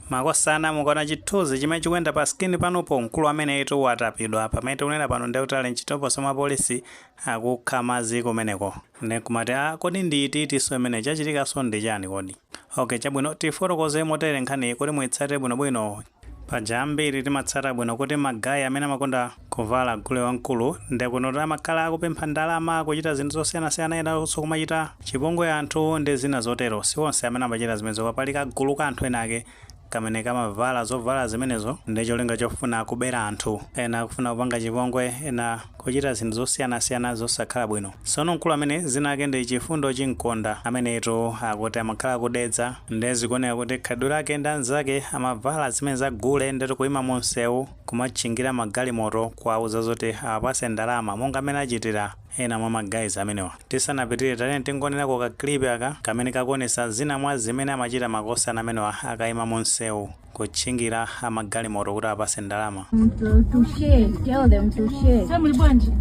Makosana mukaona chithunzi chimene chikuyenda pa screen panupo mkulu ameneyutu watapidwa pamene tikunena pano ndekuti ali mchitokosi mwa apolisi akukha madzi kumeneko nde nkumati aa kodi ndi iti itinso imeneyi chachitikanso ndi chani kodi ok chabwino tifotokoze motere nkhaniyi kuti muitsate bwinobwino paja ambiri timatsata bwino kuti ma guy amene amakonda Kuvala gule wamkulu nde kuti amakhala akupempha ndalama kuchita zinthu zosiyanasiyana enanso kumachita chipongwe anthu ndi zina zotero si onse amene amachita zimenezo koma pali kagulu ka anthu enake kamene kamavala zovala zimenezo ndi cholinga chofuna kubera anthu ena kufuna kupanga chipongwe ena kuchita zinthu zosiyanasiyana zosakhala bwino sono mkulu amene dzina lake ndi Chifundo Chimkonda amenetu akuti amakhala ku Dedza nde zikuoneka kuti khalidwe lake ndi anzake amavala zimene za gule nde kuti kuima mumsewu kumatchingira ma galimoto kuwauza zoti awapatse ndalama monga mmene achitira ena mwa ma guys amenewa. Tisanapitire tatiyeni tingowonerako ka clip aka kamene kakuwonetsa zina mwa zimene amachita makosana amenewa akayima mu nsewu kutchingira a ma galimoto kuti awapatse ndalama. Mtu tushe, tell them tushe. Sasa muli bwanji?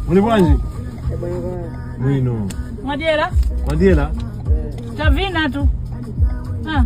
Muli bwanji? Bwino. Mwadyera? Mwadyera? Tavina tu. Ah.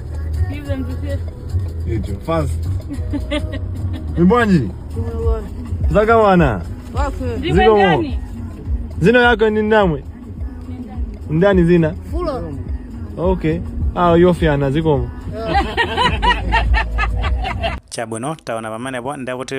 Give them to see. Icho. Fast. Muli bwanji. Zakwana. Zikomo. Dzina lako ndi ndani iwe. Ndani dzina. Fulo. Okay. Ah, yofiana zikomo. Chabwino taona pamenepo nde kuti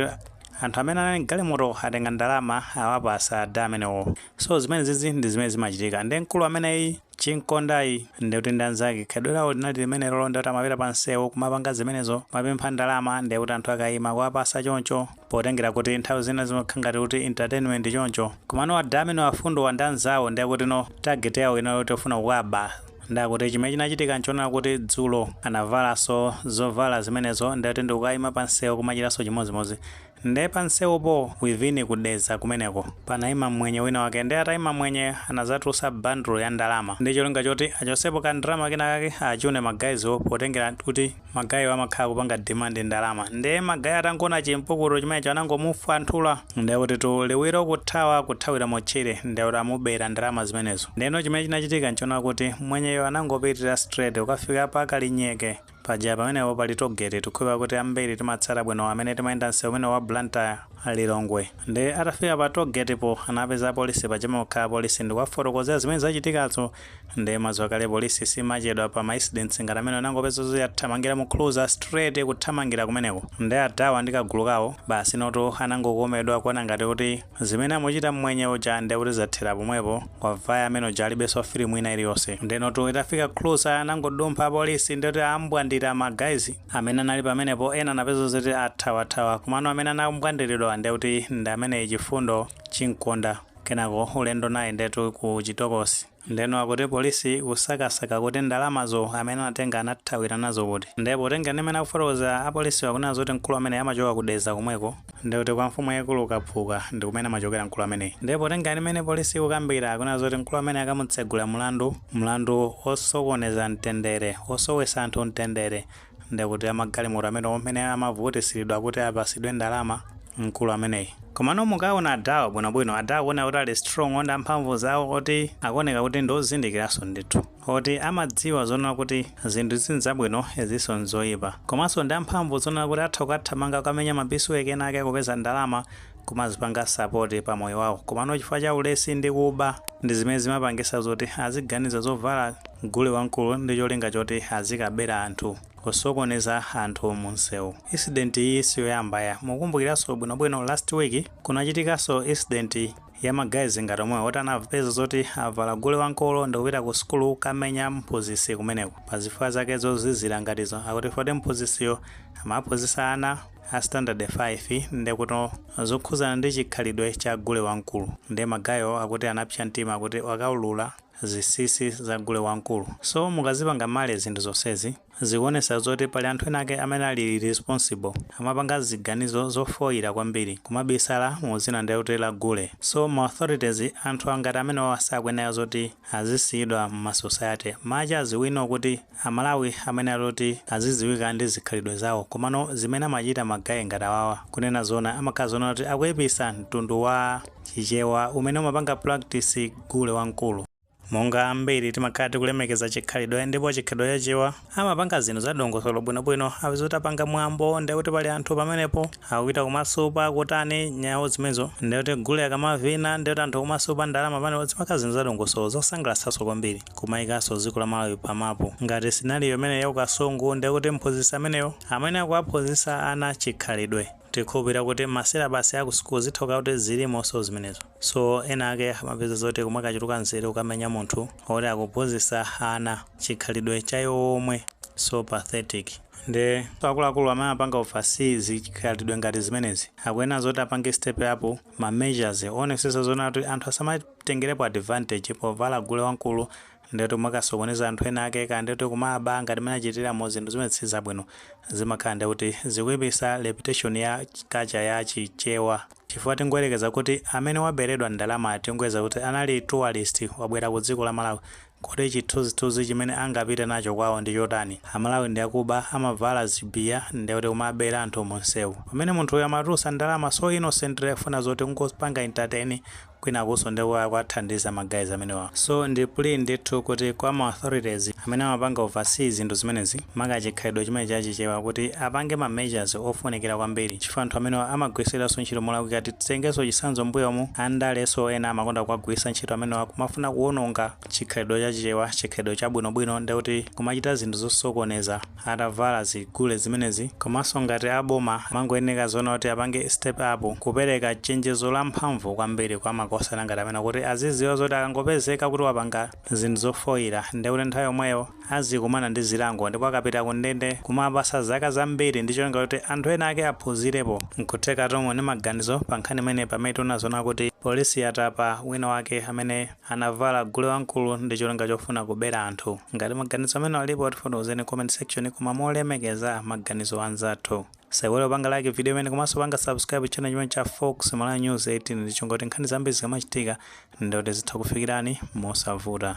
anthu amene anali mgalimoto atenga ndalama awapatsa ada amenewo so zimenezizi ndi zimene zimachitika ndi mkulu ameneyi Chimkondayi ndiye kuti ndi anzake khalidwe lawo linali limenelolo ndiye kuti amapita pa msewu kumapanga zimenezo, kumapempha ndalama ndiye kuti anthu akaima kuwapatsa choncho potengera kuti nthawi zina zimakhala ngati kuti entertainment choncho. Komano ada amene a Fundowa ndi anzawo ndiye kuti no target yawo inali yoti ofuna kuwaba ndiye akuti chimene chinachitika n'chonena kuti dzulo anavalanso zovala zimenezo ndiye kuti ndi kukaima pa msewu kumachitanso chimodzimodzi. Nde pa nsewupo within ku Dedza kumeneko panayima mmwenye wina wake nde atayima mmwenyeyo anadzatulutsa bundle ya ndalama ndi cholinga choti achotsepo ka ndalama kenakake achune ma guys wo potengera kuti ma guy wo amakhala akupanga demand ndalama nde ma guy atangowona chi mpukutu chimenecho anangomufwanthula nde kutitu liwiro kuthawa kuthawira mu tchire nde kuti amubera ndalama zimenezo ndeno chimene chinachitika nchonena kuti mmwenyeyo anangopitira straight kukafika pa Kalinyeke Paja pamenepo pali toll gate tikhulupa kuti ambiri timatsata bwino amene timayenda nsewu umenewu wa Blantyre, Lilongwe. Nde atafika pa toll gate po anapeza apolisi pa chomwe pakhala apolisi ndikuwafotokozera zimene zachitikazo nde mwadziwa kale police simachedwa pa ma incidents ngati amenewo inangopezeka yathamangira mu cruiser straight kuthamangira kumeneko nde adawa ndi kagulu kawo basi inotu anangokomedwa kuona ngati kuti Zimene amuchita mmwenye uja nde kuti zathera pomwepo, wavaya amene uja alibenso film ina iliyonse. Ndenotu itafika cruiser anangodumpha apolisi nde kuti ambwandira ma guys amene anali pamenepo ena anapeza zoti athawathawa komano amene anambwandilidwa nde kuti ndi ameneyi Chifundo Chinkonda kenako ulendo naye ndetu ku chitokosi. Ndeno akuti police ikusakasaka kuti ndalamazo amene anatenga anathawira nazo kuti? Nde potengera ndi mmene akufotokozera a policewa kunena zoti mkulu ameneyi amachoka ku Dedza komweko ndekuti kwa mfumu yaikulu Kaphuka ndikumene amachokera mkulu ameneyi. Nde potengera ndi mmene police ikukambira akunena zoti mkulu ameneyi akamutsegulira mlandu, mlandu osokoneza mtendere, osowetsa anthu mtendere, nde kuti amagalimoto amenewo mmene amavutisilidwa kuti apasidwe ndalama mkulu ameneyi komano mukawaona adhawa bwino bwino adhawa akuwoneka kuti ali strong ndi amphamvu zawo oti akuwoneka kuti ndi ozindikilaso ndithu oti amadziwa zonena kuti zinthu izi nzabwino iziso nzoyipa komaso ndi amphamvu zonena kuti atha kukathamanga kukamenya ma piecework ena ake kupeza ndalama kumazipanga support pa moyo wawo komano chifukwa cha ulesi ndi kuba ndi zimene zimapangisa zoti aziganiza zovala gule wamkulu ndi cholinga choti azikabera anthu kusokoneza anthu munsewu incident iyi siyoyamba ayi mukukumbukiranso bwinobwino last week kunachitikanso incident ya ma guys ngati omwewa oti anapeza zoti avala gule wamkulu ndikupita ku sukulu kamenya mphunzitsi kumeneko pa zifukwa zake zozizira ngatizo akuti foti mphunzitsiyo amaphunzitsa ana a standard 5 ndekuto zokhuzana ndi chikhalidwe cha gule wamkulu nde magayiwo akuti anapsya mtima kuti wakaulula zisisi za gule wamkulu so mukazipanga marry zinthu zonsezi zikuonesa zoti pali anthu ena ake amene ali irresponsible amapanga ziganizo zofoira kwambiri kumabisala mu zina ndekuti la gule so ma authorities anthu ngati amenewa sakuyenera zoti azisiyidwa mma society much as we know kuti A Malawi amene ali oti aziziwika ndi zikhalidwe zawo komano zimene amachita ma guy ngati awawa kunena zoona amakhala zoona kuti akuipisa mtundu wa Chichewa umene umapanga practice gule wamkulu. Monga ambiri timakhala tikulemekeza chikhalidwe ndipo chikhalidwe cha Achewa amapanga zinthu za dongosolo bwino bwino apeza kuti apanga mwambo ndiye kuti pali anthu pamenepo akupita kumasupa kutani nyawu zimenezo ndiye kuti gule akamavina ndiye kuti anthu kumasupa ndalama pamenepo zimakhala zinthu za dongosolo zosangalatsanso kwambiri. kumaikanso dziko la Malawi pa mapu. Ngati scenario imeneyi ya ku Kasungu ndiye kuti mphunzitsi ameneyo amene akuwaphunzitsa ana chikhalidwe. Tikhulupirira kuti ma syllabus a ku school zitha kukhala kuti zilimonso zimenezo. So ena ake amapeza zoti kumakachuluka nzeru kukamenya munthu woti akuphunzitsa ana chikhalidwe cha iwo omwe. So pathetic. Nde akuluakulu amene amapanga oversee zikhalidwe ngati zimenezi akuyenera zoti apange step up. ma measures owonesetsa zoona kuti anthu asamatengerepo advantage povala gule wankulu ndi kuti kumakasokoneza anthu ena ake kaya ndi kuti kumaba ngati mmene achitiramu zinthu zimenezi sizabwino zimakhala ndi kuti zikuipisa reputation ya culture ya chichewa chifukwa tingoyerekeza kuti amene waberedwa ndalama tingoyeza kuti anali tourist wabwera ku dziko la Malawi Kodi chithunzithunzi chimene angapite nacho kwawo ndi chotani? Amalawi ndi akuba, amavala zibiya, ndi kuti kumabera anthu mu msewu. Pamene munthu uyu amatulusa ndalama so innocently kufuna zoti kungopanga entertain kwinakunso ndiye kuti akuwathandiza ma guys amenewa. So ndi plea ndithu kuti kwa ma authorities amene amapanga oversee zinthu zimenezi maka chikhalidwe chimenechi cha Chichewa kuti apange ma measures ofunikira kwambiri chifukwa anthu amenewa amagwiritsidwanso ntchito molakwika ti. Titengenso chitsanzo mbuyomu andaleso ena amakonda kuwagwiritsa ntchito amenewa kumafuna kuwononga chikhalidwe cha chichewa chikhalidwe chabwinobwino ndi kuti kumachita zinthu zosokoneza atavala zigule zimenezi komanso ngati a boma amangoyeneka zoona kuti apange step up kupereka chenjezo la mphamvu kwambiri kwa makosana ngati amenewa kuti aziziwa zoti akangopezeka kuti wapanga zinthu zofoyira ndekuti nthawi yomweyo azikumana ndi zilango ndipo akapita kundende kumawapasa zaka zambiri ndi cholinga kuti anthu ena ake aphunzirepo. Nkuthekatu muli ndi maganizo pa nkhani imeneyi pamene taona zoona kuti polisi yatapa wina wake amene anavala gule wamkulu ndi cholinga chofuna kubera anthu. Ngati maganizo amenewa alipo tifotokozereni ku comment section koma molemekeza maganizo a anzathu. Musaiwale kupanga like video imeneyi komanso panga subscribe channel chimenechi cha Fox Malawi News 18 ndi cholinga choti nkhani zambiri zikamachitika ndikuti zitha kufikirani mosavuta.